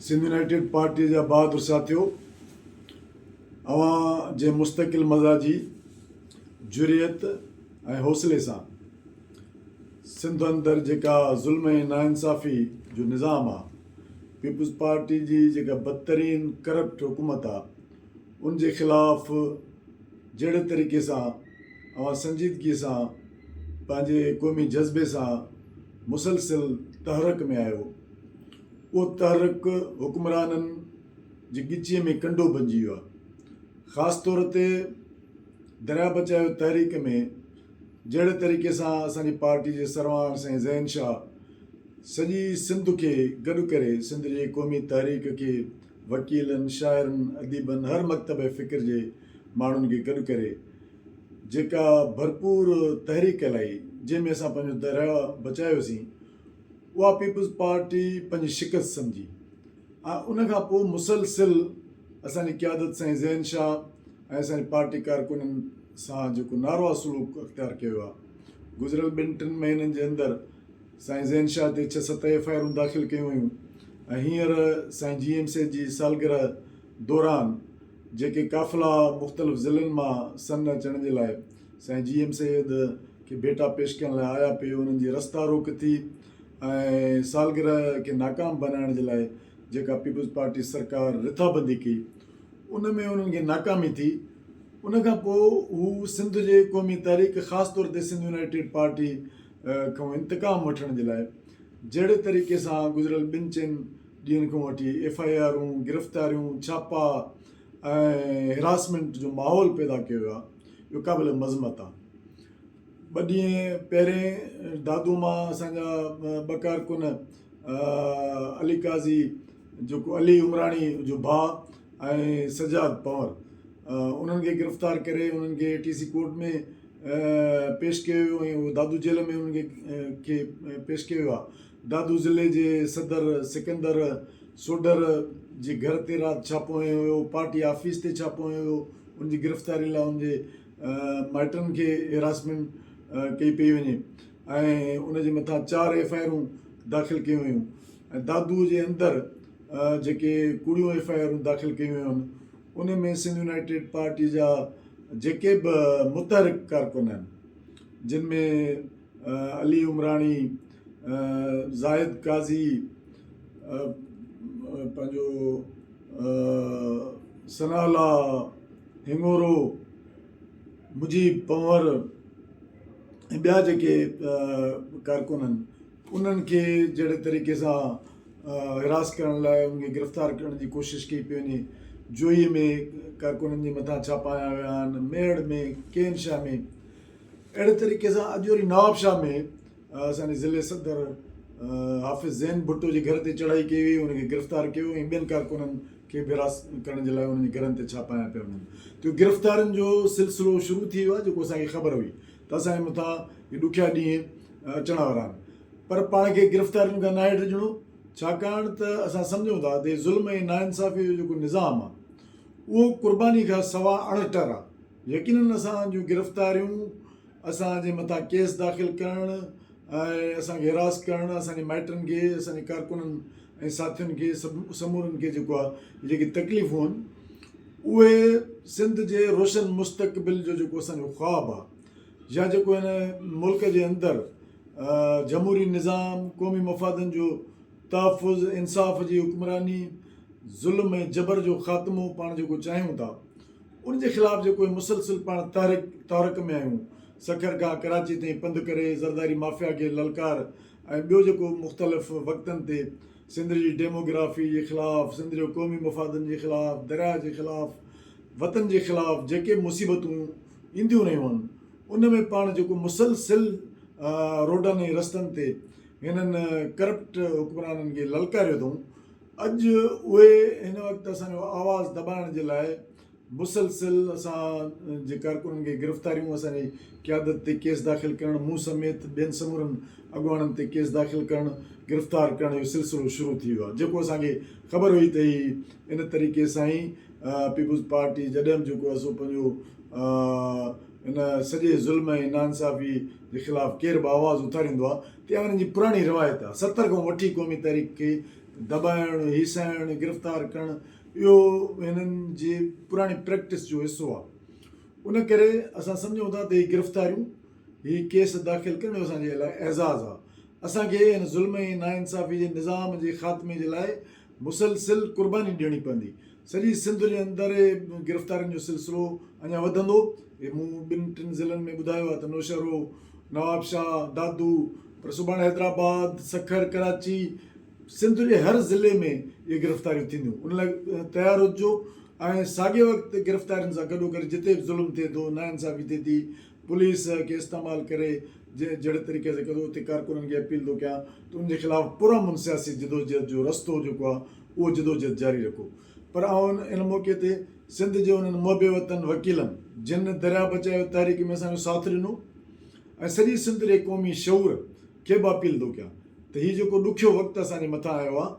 Sindh United پارٽيء جا بهادر ساٿيو! اوهان جنهن مستقل مزاجي، جرئت ۽ حوصلي سان سنڌ اندر جيڪا ظلم ۽ ناانصافي جو نظام آ، پيپلز پارٽي جي جيڪا بدترين ڪرپٽ حڪومت آ، ان جي خلاف جهڙي طريقي سان اوهان سنجيدگيء سان پنهنجي قومي جذبي سان مسلسل تحرڪ ۾ آهيو، اهو تحرڪ حڪمرانن جي ڳچيء ۾ ڪنڊو بنجي ويو آهي. خاص طور تي درياء بچايو تحريڪ ۾ جهڙي طريقي سان اسان جي پارٽي جي سرواڻ سائين ذهين شاهه سڄي سنڌ کي گڏ ڪري سنڌ جي قومي تحريڪ کي وڪيلن، شاعرن، اديبن هر مڪتبه فڪر جي ماڻهن کي گڏ ڪري جيڪا ڀرپور تحريڪ ڪلائي جنهن ۾ اسان پنهنجو درياء بچايوسين. اها پيپلز پارٽي پنهنجي شڪست سمجهي ۽ ان کان پوء مسلسل اسان جي قيادت سائين ذهن شاهه ۽ اسان جي پارٽي ڪارڪنن سان جيڪو ناروا سلوڪ اختيار ڪيو ويو آهي گذريل ٻن ٽن مهينن جي اندر سائين ذهن شاهه تي ڇهه ست ايف آء آرون داخل ڪيون ويون ۽ هينئر سائين جي ايم سي جي سالگرهه دوران جيڪي قافلا مختلف ضلعن مان سن اچڻ جي لاء سائين جي ايم سيد کي ڀيٽا پيش ڪرڻ لاء آيا پي انهن جي رستا روڪ ٿي ۽ سالگرهه کي ناڪام بنائڻ جي لاء جيڪا پيپلز پارٽي سرڪار رٿابندي ڪئي ان ۾ انهن کي ناڪامي ٿي ان کان پوء هو سنڌ جي قومي تحريڪ خاص طور تي سنڌ يونائيٽيڊ پارٽي کان انتقام وٺڻ جي لاء جهڙي طريقي سان گذريل ٻن چئن ڏينهن کان وٺي ايف آء آرون گرفتاريون ڇاپا ۽ هراسمينٽ جو ماحول پيدا ڪيو ويو آهي جو قابل مذمت آهي ٻه ڏينهن پهرين دادو مان اسان جا ٻه ڪارڪن علي قاضي جيڪو علي عمراڻي جو ڀاء ۽ سجاد پنور انهن کي گرفتار ڪري انهن کي اي ٽي سي ڪورٽ ۾ پيش ڪيو ويو ۽ دادو جيل ۾ انهن کي پيش ڪيو ويو آهي دادو ضلعي جي صدر سڪندر سوڍر جي گهر تي رات ڇاپو هنيو ويو، پارٽي آفيس تي ڇاپو هنيو ويو، ان جي گرفتاري لاء ان جي مائٽن کي هراسمينٽ ڪئي پئي وڃي ۽ ان جي مٿان چار ايف آء آرون داخل ڪيون ويون ۽ دادو جي اندر جيڪي ڪوڙيون ايف آء آرون داخل ڪيون ويون ان ۾ سنڌ يونائيٽيڊ پارٽي جا جيڪي به متحرڪ ڪارڪن آهن جن ۾ علي عمراڻي، زاهد قاضي، پنهنجو ثناء الله هڱورو، مجيب پنهور ۽ ٻيا جيڪي ڪارڪن آهن انهن کي جهڙي طريقي سان حراس ڪرڻ لاء انهن کي گرفتار ڪرڻ جي ڪوشش ڪئي پئي وڃي جوهي ۾ ڪارڪنن جي مٿان ڇاپا هنيا ويا آهن ميڙ ۾ ڪي ان شاء ۾ اهڙي طريقي سان اڄ وري نوابشاهه ۾ اسان جي ضلعي صدر حافظ زين ڀٽو جي گهر تي چڙهائي ڪئي وئي ان کي گرفتار ڪيو ويو ۽ ٻين ڪارڪنن کي به حراست ڪرڻ جي لاء انهن جي گهرن تي ڇاپا هنيا پيا وڃن ته گرفتارين جو سلسلو شروع ٿي ويو آهي جيڪو اسان کي خبر هئي ته اسان جي مٿان هي ڏکيا ڏينهن اچڻ وارا آهن پر پاڻ کي گرفتارين کان ناهي ڊڄڻو ڇاڪاڻ ته اسان سمجهون ٿا ته ظلم ۽ ناانصافي جو جيڪو نظام آهي اهو قرباني کان سوا اڻٽر آهي يقينن اسان جون گرفتاريون، اسان جي مٿان ڪيس داخل ڪرڻ ۽ اسان کي حراس ڪرڻ اسان جي مائٽن کي، اسان جي ڪارڪنن ۽ ساٿين کي سمورن کي جيڪو آ جيڪي تڪليفون هن اهي سنڌ جي روشن مستقبل جو جيڪو اسان جو خواب آ يا جيڪو هن ملڪ جي اندر جمهوري نظام، قومي مفادن جو تحفظ، انصاف جي حڪمراني، ظلم ۽ جبر جو خاتمو پاڻ جيڪو چاهيون ٿا. ان جي خلاف جيڪو هي مسلسل پاڻ تحرڪ تحرڪ ۾ آهيون سکر کان ڪراچي تائين پنڌ ڪري زرداري مافيا کي للڪار ۽ ٻيو جيڪو مختلف وقتن تي سنڌ جي ڊيمو گرافي جي خلاف سنڌ جو قومي مفادن جي خلاف درياء جي خلاف وطن جي خلاف جيڪي مصيبتون اينديون رهيون آهن ان ۾ پاڻ جيڪو مسلسل روڊن ۽ رستن تي هنن ڪرپٽ حڪمرانن کي للڪاريو اٿئون اڄ اهي هن وقت اسان جو آواز دٻائڻ جي لاء مسلسل اسان جي ڪارڪنن کي گرفتاريون اسان جي قيادت تي ڪيس داخل ڪرڻ مون سميت ٻين سمورن اڳواڻن تي ڪيس داخل ڪرڻ گرفتار ڪرڻ جو سلسلو شروع ٿي ويو آهي جيڪو اسان کي خبر هئي ته هي ان طريقي سان ئي پيپلز پارٽي جڏھم جيڪو آهي سو پنهنجو ان سڄي ظلم ۽ ناانصافي جي خلاف ڪير به آواز اٿاريندو آهي اها انهن جي پراڻي روايت آهي، ستر کان وٺي قومي تحريڪ کي دٻائڻ، هيسائڻ، گرفتار ڪرڻ اهو هنن جي پراڻي پريڪٽس جو حصو آهي. ان ڪري اسان سمجهون ٿا ته هي گرفتاريون، هي ڪيس داخل ڪرڻ اهو اسان جي لاء اعزاز آهي. اسان کي هن ظلم ۽ ناانصافي جي نظام جي خاتمي جي لاء مسلسل قرباني ڏيڻي پوندي. سڄي سنڌ جي اندر گرفتارين جو سلسلو اڃا وڌندو، هي مون ٻن ٽن ضلعن ۾ ٻڌايو آهي ته نوشهرو، نوابشاهه، دادو پر سڀاڻي حيدرآباد، سکر، ڪراچي سنڌ جي هر ضلعي ۾ اهي گرفتاريون ٿينديون ان لاء تيار هججو ۽ ساڳئي وقت گرفتارين سان گڏوگڏ جتي به ظلم ٿئي ٿو، ناانصافي ٿئي ٿي، پوليس کي استعمال ڪري جهڙي طريقي سان ڪندو اتي ڪارڪنن کي اپيل ٿو ڪيان ته ان جي خلاف پرامن سياسي جدوجهد جو رستو جيڪو آهي اهو جدوجهد جاري رکو پر آئون ان موقعي تي سنڌ جي انهن محب وطن وڪيلن جن درياء بچايو تحريڪ ۾ اسان جو ساٿ ڏنو ۽ سڄي سنڌ جي قومي شعور کي به اپيل ٿو ڪيان ته هي جيڪو ڏکيو وقت اسان جي مٿان آيو آهي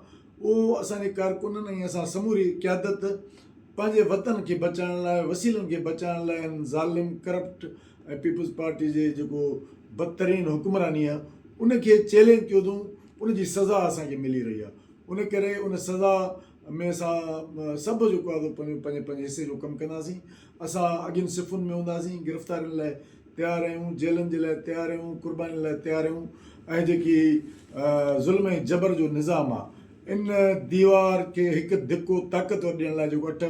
اهو اسان جي ڪارڪنن ۽ اسان سموري قيادت پنهنجي وطن کي بچائڻ لاء وسيلن کي بچائڻ لاء ان ظالم ڪرپٽ ۽ پيپلز پارٽي جي جيڪو بدترين حڪمراني آهي ان کي چئلينج ڪيو اٿئون ان جي سزا اسان کي ملي رهي آهي ان ڪري ان سزا ۾ اسان سڀ جيڪو آهي سو پنهنجو پنهنجي پنهنجي حصي جو ڪم ڪنداسين اسان اڳين صفن ۾ هونداسين گرفتارين لاء تيار رهيون، جيلن جي لاء تيار رهيون، قربانين لاء تيار رهيون، اهي جيڪي ظلم ۽ جبر جو نظام آ، ان ديوار کي هڪ ڌڪو طاقتور ڏيڻ لاء جيڪو اٺ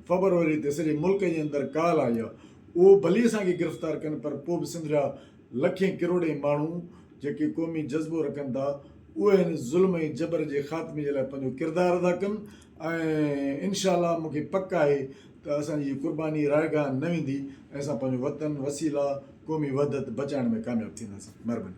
فبروري تي سڄي ملڪ جي اندر ڪال آئي آ، اهو ڀلي اسان کي گرفتار ڪن پر پوء به سنڌ جا لکين ڪروڙين ماڻهو جيڪي قومي جذبو رکن ٿا، اهي هن ظلم ۽ جبر جي خاتمي جي لاء پنهنجو ڪردار ادا ڪن ۽ انشاء الله مون کي پڪ آهي ته اسان جي هي قرباني رائگان نه ويندي ۽ اسان پنهنجو وطن وسيله قومي وحدت بچائڻ ۾ ڪامياب ٿينداسين مھرباني.